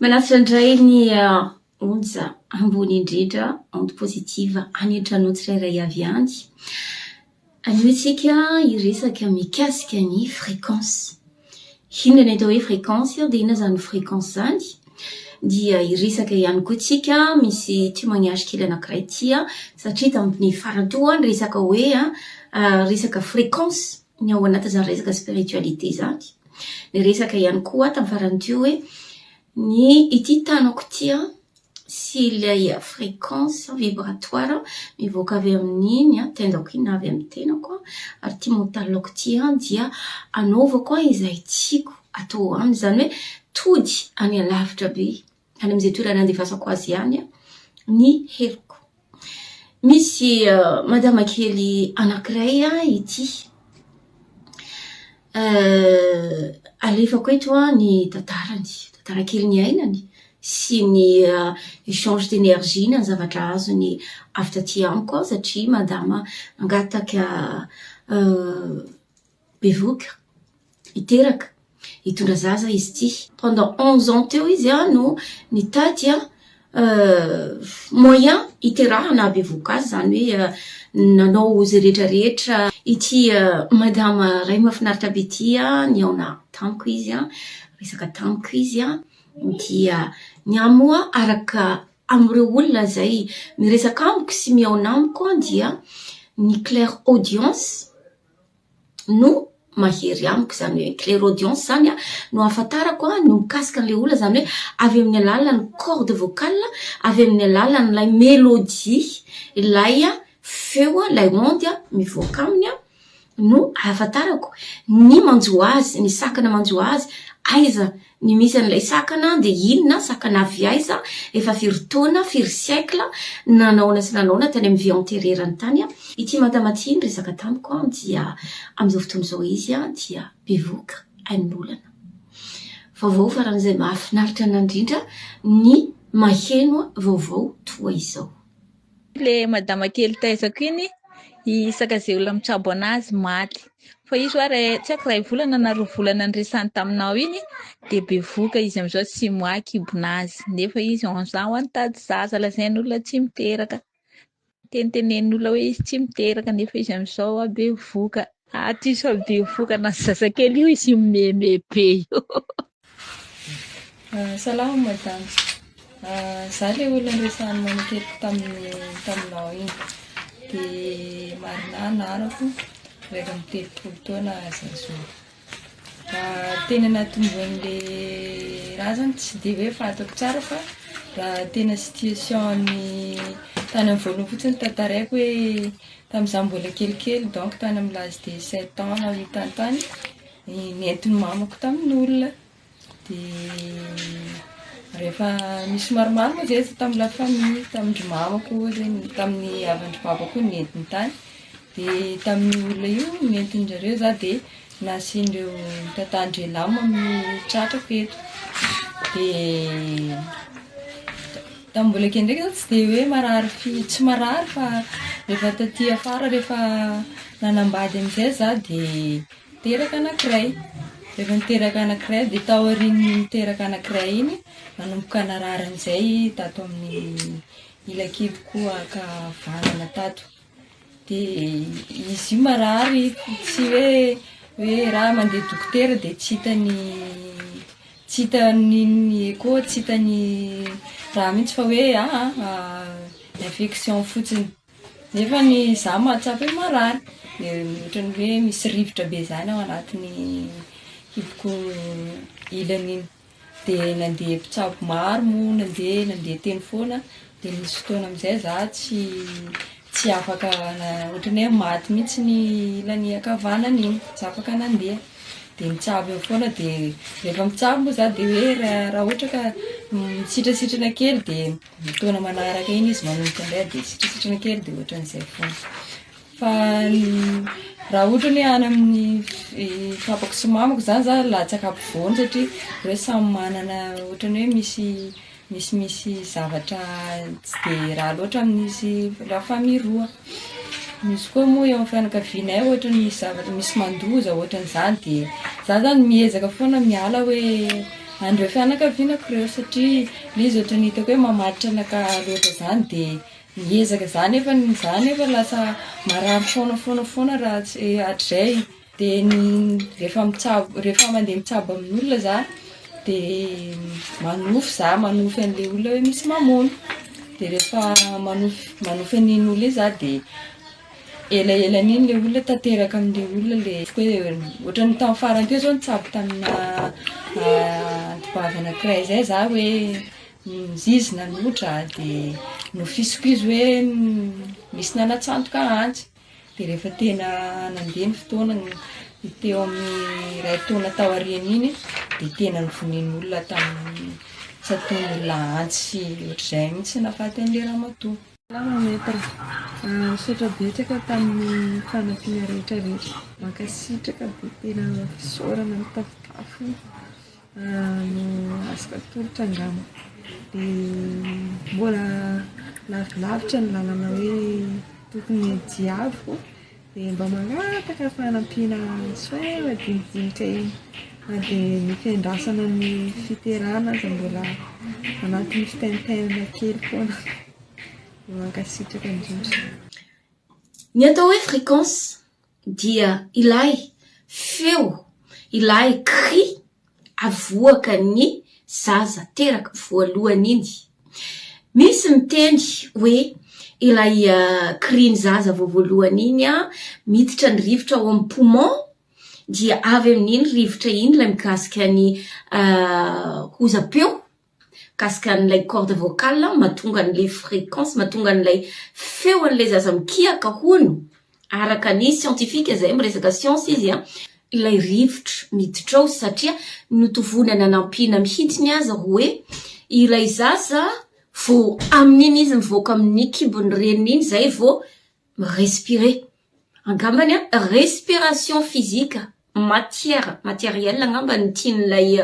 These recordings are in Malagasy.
Manafatra indray ny onja ambony indrindra, onde positive, any an-tranonao tsirairay avy any. Anio isika hiresaka mikasika ny fréquence. Inona ny atao hoe fréquence ary dia inona izany fréquence izany? Dia hiresaka ihany koa isika, misy témoignage kely anankiray ity satria tamin'ny faran'ny toa ny resaka hoe resaka fréquence. ny ao anatin'izany resaka spiritualité izany. Niresaka ihany koa aho tamin'ny farany teo hoe ny ity tanako ity an, sy ilay fréquence vibratoire mivoaka avy amin'iny tendako iny na avy amin'ny tenako an, ary ity mental-ko ity an, dia anaovako izay tiako atao aminy. Izany hoe tody any alavitra be. any amin'izay toerana andefasako azy ihany ny heloko. Misy madama kely anankiray ity. Alefako eto ny tantarany, tantara kely niainany sy ny échange d'énergie na ny zavatra azony avy taty amiko satria madama nangataka Bevoka, hiteraka, hitondra zaza izy ity. Pendant onze ans teo izy no nitady moyen hiterahana hahabevohoka azy, izany hoe nanao izay rehetra rehetra. Ity madama iray mahafinaritra be ity nihaona tamiko izy, niresaka tamiko izy dia ny ahy moa araka amin'ireo olona izay miresaka amiko sy mihaona amiko dia ny clair audience no mahery amiko izany hoe clairaudience izany an, no ahafantarako an ny mikasika an'ilay olona izany hoe avy amin'ny alalan'ny corde vocale, avy amin'ny alalan'ilay melodie, ilay feo an, ilay onde an mivoaka aminy an no ahafantarako ny manjo azy, ny sakana manjo azy aiza Ny misy an'ilay sakana dia inona, sakana avy aiza, efa firy taona, firy siècle, nanaona sy nanaona tany amin'ny vie antérieure-ny tany. Ity madama ity niresaka tamiko an dia amin'izao fotoana izao izy an dia bevoka ain'olana. Vaovao faran'izay mahafinaritra an'Andrindra ny maheno vaovao toa izao. le madama kely taizako iny i sakazela mitsabo anazy maty fa izy oa ray tsy aiko ray volana na roa volana niresany taminao iny de bevoka izy amizao tsy moa kibona azy nefa izy anzao an tady zaza lazain'olona tsy miteraka tenitenen'olona hoe izy tsy miteraka nefa izy amizao a bevoka aty sao bevoka na zazakely io izy mimeme be io Salama madame, za le olona niresahany manekeliko tamin'ny taminao iny, de Marina anarako, iraika amby telopolo taona zazou, tena natombohan'le raha zany tsy de hoe fantako tsara fa raha tena situation-ny tany amin'ny voalohany fotsiny no tantaraiko hoe tamin'izaho mbola kelikely donc tany amin'ny l'âge de sept ans no nahitany tany, Ny nentin'ny mamako tamin'ny olona dia rehefa nisy maromaro moa izay izy tamin'ny la famille, tamin-dry mamako ohatra, tamin'ny havan-dry babako koa nentiny tany. Dia tamin'io olona io nentin-dry zareo izaho dia nasian'ireo tantan-dry lam amin'ny tratrako eto. Dia tamin'ny mbola kely ndraika izaho tsy dia hoe marary fi- tsy marary fa rehefa taty afara rehefa nanambady amin'izay izaho dia Niteraka anankiray. Rehefa niteraka anankiray dia taorian'ny niteraka anankiray iny, nanomboka narary amin'izay i Tato amin'ny ilakiboko ankavanana tato. Dia izy io marary, tsy hoe hoe raha mandeha dokotera dia tsy hita ny tsy hita ny ny echo, tsy hita ny raha mihitsy fa hoe ah ah infection fotsiny. Nefa ny za mahatsapa hoe marary, dia ohatran'ny hoe misy rivotra be zany ao anatin'ny kiboko ilany iny, dia nandeha mpitsabo maro moa nandeha nandeha teny foana, dia nisy fotoana amin'izay za tsy tsy afaka ohatran'ny hoe maty mihitsy ny ilany ankavanana iny, tsy afaka nandeha, dia mitsabo eo foana, dia rehefa mitsabo moa za dia hoe raha ohatra ka misitrasitrana kely dia. Ny taona manaraka iny izy manomboka indray dia sitrisitriny kely dia ohatran'izay foana. Fa raha ohatra ny any amin'ny papako sy mamako izany za latsaka ampovoany satria reo samy manana ohatran'ny hoe misy misimisy zavatra tsy dia raha loatra amin'ny izy la famille roa. Misy koa moa eo amin'ny fianakavianay ohatry ny zavatra misy mandoza ohatry ny zany dia za zany miezaka foana miala hoe an'ireo fianakavianako ireo satria le izy ohatry ny hitako hoe mamaditra anakahy loatra zany dia miezaka za nefa ny za nefa lasa marary foana foana foana raha tsy hatrizay Dia rehefa mitsabo, rehefa mandeha mitsabo amin'olona za dia manofy za, manofy an'ilay olona hoe misy mamono. Dia rehefa manofy, manofy an'iny olona iny za dia elaelan'iny ilay olona tanteraka amin'ilay olona ilay ohatran'ny tamin'ny farany teo zao nitsabo tamina anti-bavy anankiray zay za hoe izy nanotra dia nofisiko izy hoe misy nanatsantoka antsy. Dia rehefa tena nandeha ny fotoana teo amin'ny iray taona taoriana iny dia tena nivonen'olona tamin'ny tsy ataon'olona antsy sy ohatr'izay mihitsy nahafaty an'ilay ramatoa. Salama Maître. Misaotra betsaka tamin'ny fanampiana rehetra rehetra. Mankasitraka dia tena fisaorana mitafotafo. no afaka atolotra angamba dia mbola lavilavitra ny lalana hoe tokony hiadiavo dia mba mangataka fanampiana soit madinidinika eny na dia ny fiandrasana ny fiterana aza mbola anatin'ny fitenitenana kely foana dia mankasitraka indrindra. Ny atao hoe fréquence dia ilay feo, ilay cri avoaka ny zaza teraka voalohany iny. Misy miteny hoe ilay cri ny zaza vao voalohany iny an, miditra ny rivotra ao amin'ny poumon, dia avy amin'iny rivotra iny ilay mikasika ny hozam-peo. mikasika an'ilay corde vocale an, mahatonga an'ilay fréquence, mahatonga an'ilay feo an'ilay zaza mikiaka hono, araka ny siantifika izay, miresaka siansa izy an, ilay rivotra miditra ao satria notovoina nanampiana mihitsiny aza ho hoe ilay zaza vao amin'iny izy mivoaka amin'ny kibon'ny reniny iny izay vao mi-respirer. Angambany an, respiration physique, matière, matériel angamba no tian'ilay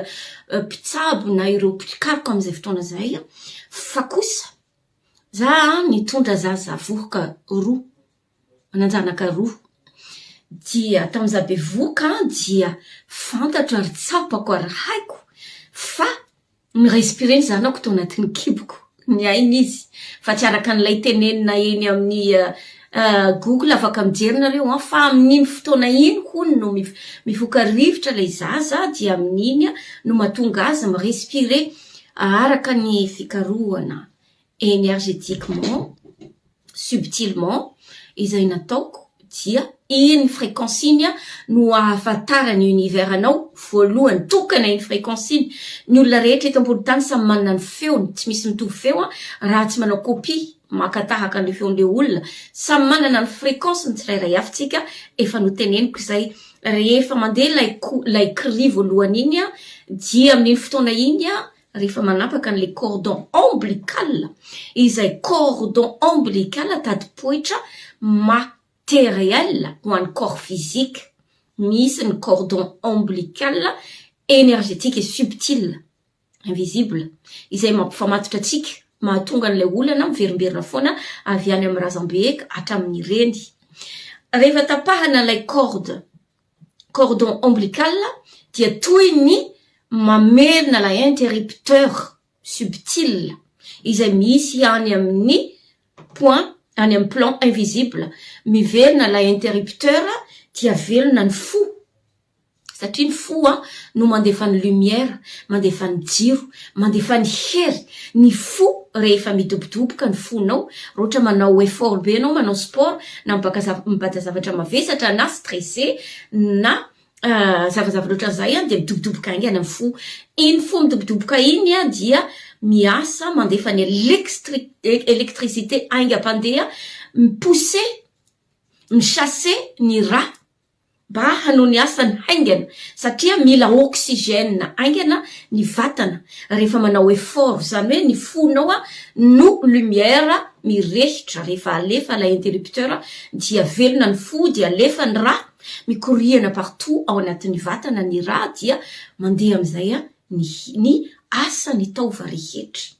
mpitsabo na ireo mpikaroka amin'izay fotoana izay. Fa kosa za nitondra zaza vohoka roa, manan-janaka roa, dia tamin'ny za bevohoka dia fantatra ary tsapako ary haiko fa Ni-respirer ny zanako tao anatin'ny kiboko, ny ainy izy, fa tsy araka an'ilay tenenina eny amin'ny Google, afaka mijery nareo an, fa amin'iny fotoana iny hono no mifoka rivotra ilay zaza dia amin'iny no mahatonga azy mi-respirer araka ny fikarohana energetiquement, subtilement, izay nataoko dia iny fréquence iny no ahafantaran'ny univers anao voalohany, tokana iny fréquence iny, ny olona rehetra eto ambony tany samy manana ny feony, tsy misy mitovy feo raha tsy manao copie, maka tahaka an'ilay feon'ilay olona, samy manana ny fréquence ny tsirairay avy tsika, efa noteneniko izay, rehefa mandeha ilay ko, ilay cri voalohany iny dia amin'iny fotoana iny. rehefa manapaka an'ilay cordon ombilical, izay cordon ombilical tadipoitra matériel ho an'ny corps physique, misy ny cordon ombilical énergétique et subtil, invisible, izay mampifamatotra antsika, mahatonga an'ilay olana miverimberina foana avy any amin'ny razambe ka hatramin'ny reny. Rehefa tapahana ilay corde. cordon ombilical dia toy ny mamerina ilay interrupteur subtile izay misy any amin'ny point any amin'ny plan invisible miverina ilay interrupteur dia velona ny fo satria ny fo a no mandefa ny lumière mandefa ny jiro Mandefa ny hery, ny fo rehefa midobodoboka ny fonao, roatra manao effort be ianao manao sport na mibaka zava mibata zavatra mavesatra na stressé na zavazavatra ohatran'izay an dia midobodoboka haingana ny fo, iny fo midobodoboka iny an dia miasa mandefa ny elekstrik électricité haingam-pandeha mi-pousser, mi-chasser ny rà. mba hanao ny asany haingana satria mila oxygène haingana ny vatana rehefa manao effort, izany hoe ny fonao no lumière mirehitra rehefa alefa ilay interrupteur dia velona ny fo dia alefa ny rà, mikoriana partout ao anatin'ny vatana ny rà dia mandeha amin'izay ny ny asan'ny taova rehetra.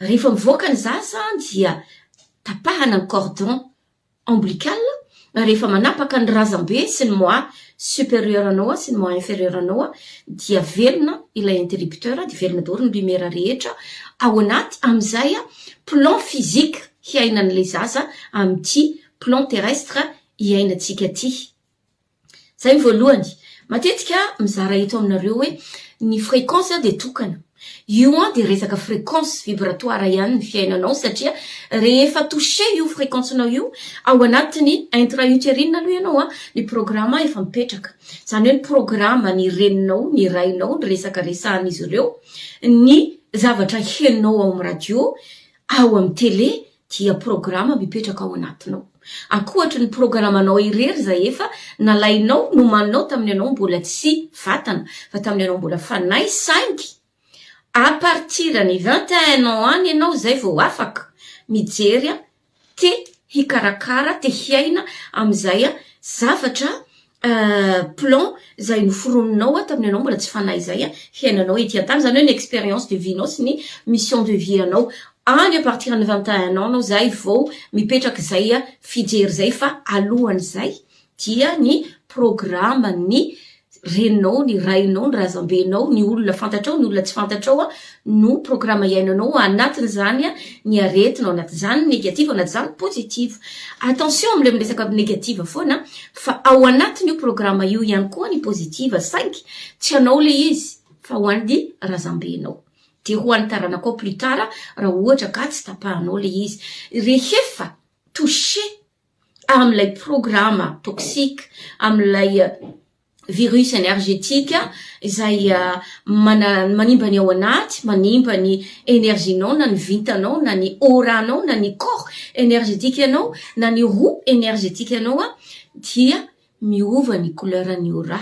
Rehefa mivoaka ny zaza dia tapahana ny cordon. ombilical, rehefa manapaka ny razambe sy ny mois superieur anao sy ny mois inferieur anao dia velona ilay interrupteur dia velona daholo ny lumière rehetra ao anaty amin'izay plan physique hiainan'ilay zaza amin'ity plan terrestre hiainantsika ity Zay ny voalohany, matetika ah mizara eto aminareo hoe ny fréquence ah dia tokana, io an dia resaka fréquence vibratoire ihany ny fiainanao satria rehefa toucher io fréquence nao io ao anatin'ny intra uterine aloha ianao an ny programa efa mipetraka, zany hoe ny programa ny reninao ny rainao ny resaka resahan'izy ireo, ny zavatra henonao ao amin'ny radio, ao amin'ny télé, dia programa mipetraka ao anatinao. Ankoatry ny programanao irery izay efa nalainao nomaninao tamin'ny anao mbola tsy vatana, fa tamin'ny anao mbola fanahy, saingy à partir ny vingt et un ans any ianao izay vao afaka mijery te hikarakara, te hiaina amin'izay zavatra Euh plomb izay noforoninao aho tamin'ianao mbola tsy fanahy izay hiainanao ety an-tany, izany hoe ny expérience de vie-nao sy ny mission de vie anao. Any à partir ny vingt et un ans nao izay vao mipetraka izay fijery izay fa alohan'izay dia ny programme-n'ny reninao, ny rainao, ny razambenao, ny olona fantatrao, ny olona tsy fantatrao, no programa iainanao ao anatin'izany ny aretina ao anatin'izany negative ao anatin'izany positive. Attention amin'ilay miresaka negative foana fa ao anatin'io programa io ihany koa ny positive saingy tsy anao ilay izy fa ho an'ny razambenao dia ho an'ny taranakao plus tard raha ohatra ka tsy tapahanao ilay izy. Rehefa toucher amin'ilay programa toxique, amin'ilay virus energetique izay manimba ny ao anaty, manimba ny énergie-nao na ny vintanao na ny aura-nao na ny corps energetique-nao na ny roue energetique-nao dia miova ny couleur-ny aura.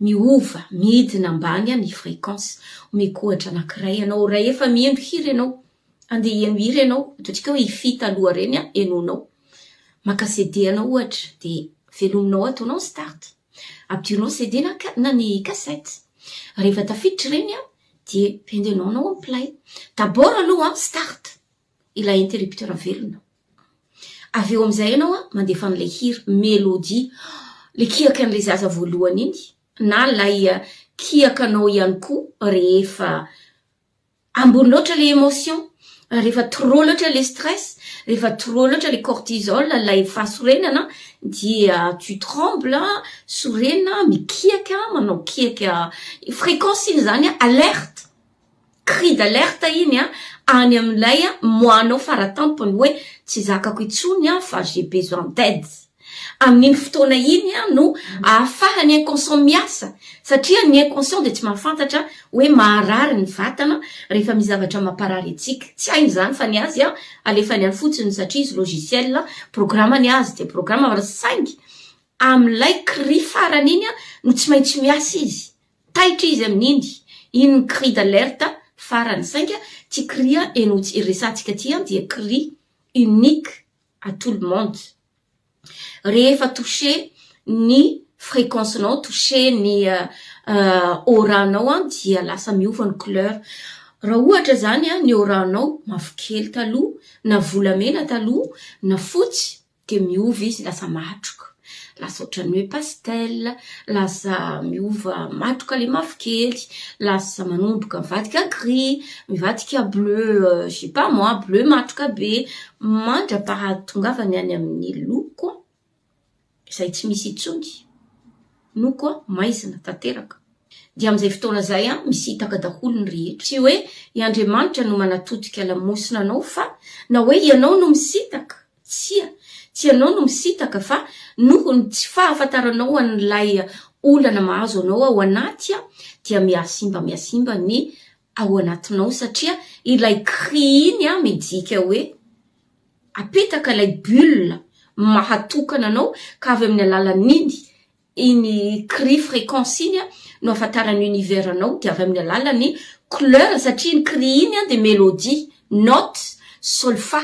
Miova, midina ambany ny fréquence. Omeko ohatra anankiray ianao, rahefa mihaino hira ianao, andeha hihaino hira ianao, ataontsika hoe i Fy taloha ireny henoinao, maka CD anao ohatra, dia velominao, ataonao ny start, ampidirinao ny CD na ka na ny cassette. Rehefa tafiditra ireny dia pendenao anao ny play. D'abord aloha start ilay interrupteur velona. Avy eo amin'izay ianao an, mandefa an'ilay hira, mélodie, ilay kiaka an'ilay zaza voalohany iny, na ilay kiakanao ihany koa rehefa ambony loatra ilay émotion, rehefa trop loatra ilay stress, rehefa trop loatra ilay cortisol, ilay fahasorenana dia tu tremble, sorena, mikiaka, manao kiaka, fréquence iny izany an, alerte. cri d'alerte iny an, any amin'ilay moanao faratampony hoe tsy zakako intsony aho fa j'ai besoin d'aide. Amin'iny fotoana iny no ahafahan'ny inconscient miasa satria ny inconscient dia tsy mahafantatra hoe maharary ny vatana rehefa misy zavatra mamparary antsika. Tsy hainy izany fa ny azy alefany any fotsiny satria izy logiciel, programa ny azy dia programa saingy amin'ilay cri farany iny no tsy maintsy miasa izy. Taitra izy amin'iny, iny cri d'alerte farany, sainga ty cri eno tsy resatsika ty dia cri unique à tout le monde. Rehefa toucher ny fréquence nao, toucher ny aura nao dia lasa miova ny couleur. Raha ohatra zany ny aura nao mavokely taloha, na volamena taloha, na fotsy, dia miova izy lasa matroka, lasa ohatran'ny hoe pastel, lasa miova matroka ilay mavokely, lasa manomboka mivadika gris, mivadika bleu je sais pas moi, bleu matroka be mandra-pahatongavany any amin'ny loko izay tsy misy intsony, loko maizina tanteraka. Dia amin'izay fotoana izay misitaka daholo ny rehetra. Tsy hoe i Andriamanitra no manatodika lamosina anao fa na hoe ianao no misitaka. Tsia, tsy ianao no misitaka fa noho ny tsy fahafantaranao an'ilay olana mahazo anao ao anaty dia mihasimba mihasimba ny ao anatinao satria ilay gris iny midika hoe apetaka ilay bulle maha tokana anao ka avy amin'ny alalan'iny iny gris fréquence iny no ahafantaran'ny univers anao dia avy amin'ny alalan'ny couleur satria iny gris iny dia mélodie, notes, solfa.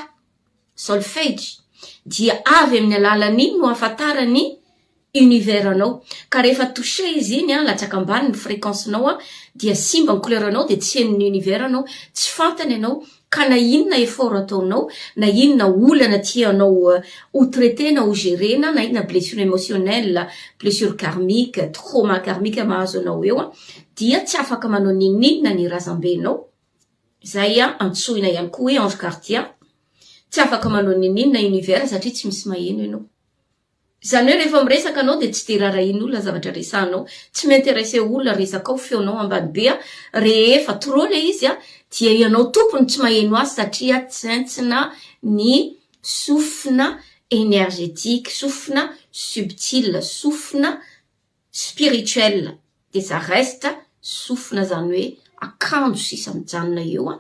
Solfegy, dia avy amin'ny alalan'iny no ahafantarany ny univers anao, ka rehefa touché izy iny an, latsaka ambany ny fréquence nao an, dia simba ny couleur nao dia tsy henon'ny univers anao, tsy fantany anao, ka na inona effort ataonao, na inona olana tianao ho traiter na ho gerer-na, na inona blessure émotionnelle, blessure karmique, trauma karmique mahazo anao eo an, dia tsy afaka manao n'inon'inona ny razambenao, izay antsoina ihany koa hoe ange gardien, tsy afaka manao n'inon'inona na univers satria tsy misy maheno ianao. Izany hoe rehefa miresaka anao dia tsy dia raharahian'olona ny zavatra resahanao, tsy mi-interesser olona resakao, feonao ambany be, rehefa trop ilay izy dia ianao tompony tsy maheno azy satria tsentsina ny sofina energetique, sofina subtile, sofina. spirituel des arrestes sofina zany hoe akanjo sisa mijanona eo an,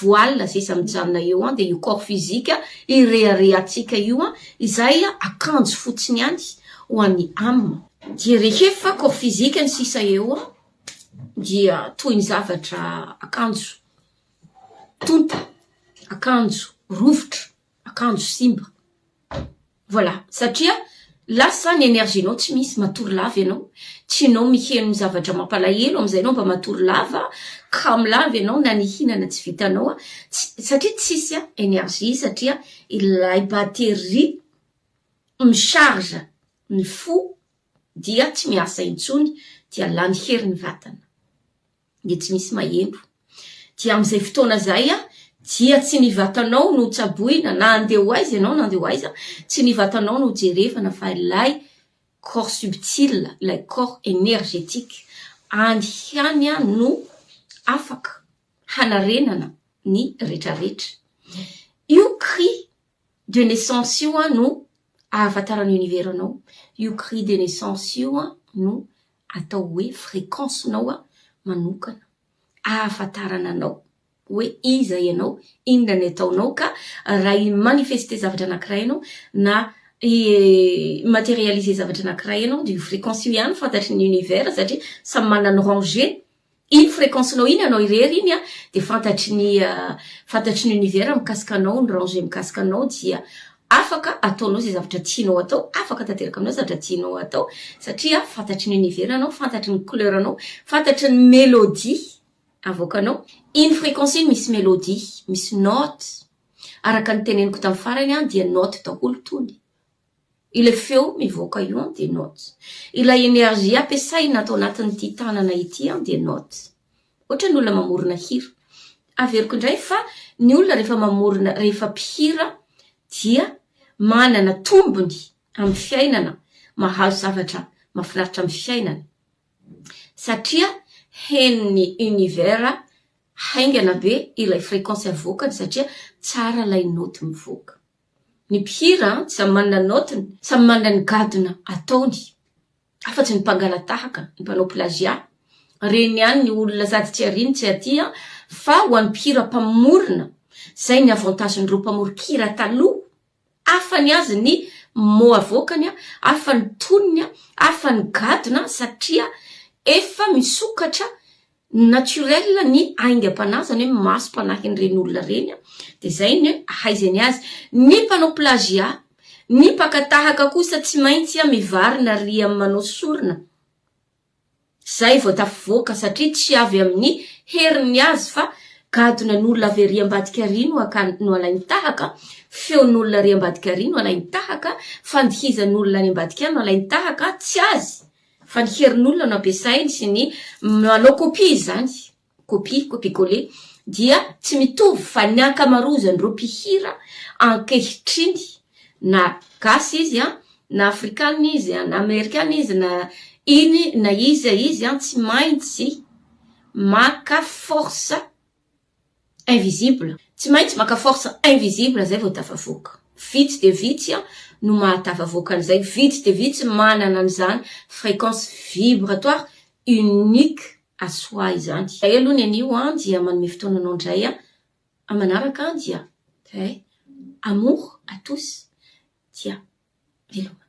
voile sisa mijanona eo an, dia io corps physique ireharehantsika io an, izay akanjo fotsiny ihany ho an'ny âme. Dia rehefa corps physique ny sisa eo an, dia toy ny zavatra akanjo tonta, akanjo rovitra akanjo simba voilà satria lasa ny énergie nao tsy misy matory lava ianao tsy nao miheno zavatra mampalahelo amin'izay nao mba matory lava ka milava ianao na nihinana tsy vitanao satria tsisy a énergie satria ilay batterie mi charge ny fo dia tsy miasa intsony dia lany hery ny vatana dia tsy misy mahempo. Dia amin'izay fotoana izay dia tsy ny vatanao no tsaboina na andeha ho aiza ianao na andeha ho aiza, tsy ny vatanao no jerevana fa ilay corps subtil, ilay corps énergétique, any ihany no afaka hanarenana ny retraretra. Io cri. de naissance io an no ahafantaran'ny univers anao, io cri de naissance io an no atao hoe fréquence nao an manokana ahafantarana anao hoe iza ianao, inona ny ataonao ka raha hi manifester zavatra anakiray anao na hi materialiser zavatra anakiray anao de io fréquence io ihany fantatry ny univers satria samy manana ny rangé. Iny fréquence nao iny anao irery iny a dia fantatry ny fantatry ny univers mikasika anao ny ranger mikasika anao dia afaka ataonao izay zavatra tianao atao afaka tanteraka aminao zavatra tianao atao satria fantatry ny univers anao fantatry ny couleur anao fantatry ny mélodie avoakanao iny fréquence iny misy mélodie misy note araka ny teneniko tamin'ny farany a dia note daholo tony Ilay feo mivoaka io an dia notes. Ilay energie ampiasaina ato anatin'ity tanana ity an dia notes. Ohatran'ny olona mamorona hira. Averiko indray fa ny olona rehefa mamorona, rehefa mpihira dia manana tombony amin'ny fiainana, mahazo zavatra mahafinaritra amin'ny fiainana satria henon'ny univers haingana be ilay fréquence avoakany satria tsara ilay note mivoaka. Ny mpihira samy manana ny naotiny, samy manana ny gadona ataony. Afatsy ny mpangalatahaka, ny mpanao plagiat, reny ihany ny olona sady tsy aria no tsy atia fa ho an'ny mpihira mpamorona zay ny avantagen'ireo mpamoron-kira taloha, hafa ny azy ny mots avoakany, hafa ny tonony, hafa ny gadona satria efa misokatra naturel ny aingam-panahy zany hoe masom-panahin'ny reny olona reny a de zay ny hoe ahaizany azy ny mpanao plagiat ny mpaka tahaka kosa tsy maintsy a mivarina ry amin'ny manao sorona zay vao tafivoaka satria tsy avy amin'ny heriny azy fa gadona n'olona avy ary ambadika ary no akany no alainy tahaka feon'olona ary ambadika ary no alainy tahaka fandihizan'olona any ambadika any no alainy tahaka tsy azy Fa ny herin'olona no ampiasainy sy ny manao kopia izany, kopia, copie coller, dia tsy mitovy fa ny ankamarozan'ireo mpihira ankehitriny na gasy izy an, na afrikana izy an, na amerikana izy, na iny na iza izy an, tsy maintsy maka force. Invisible, tsy maintsy maka force invisible zay vao tafavoaka, vitsy dia vitsy no mahatafavoaka an'izay, vitsy dia vitsy manana an'izany fréquence vibratoire unique à soi izany. Zay aloha ny anio an, dia manome fotoana anao indray an, amin'ny manaraka an dia eh, amour à tous, dia veloma.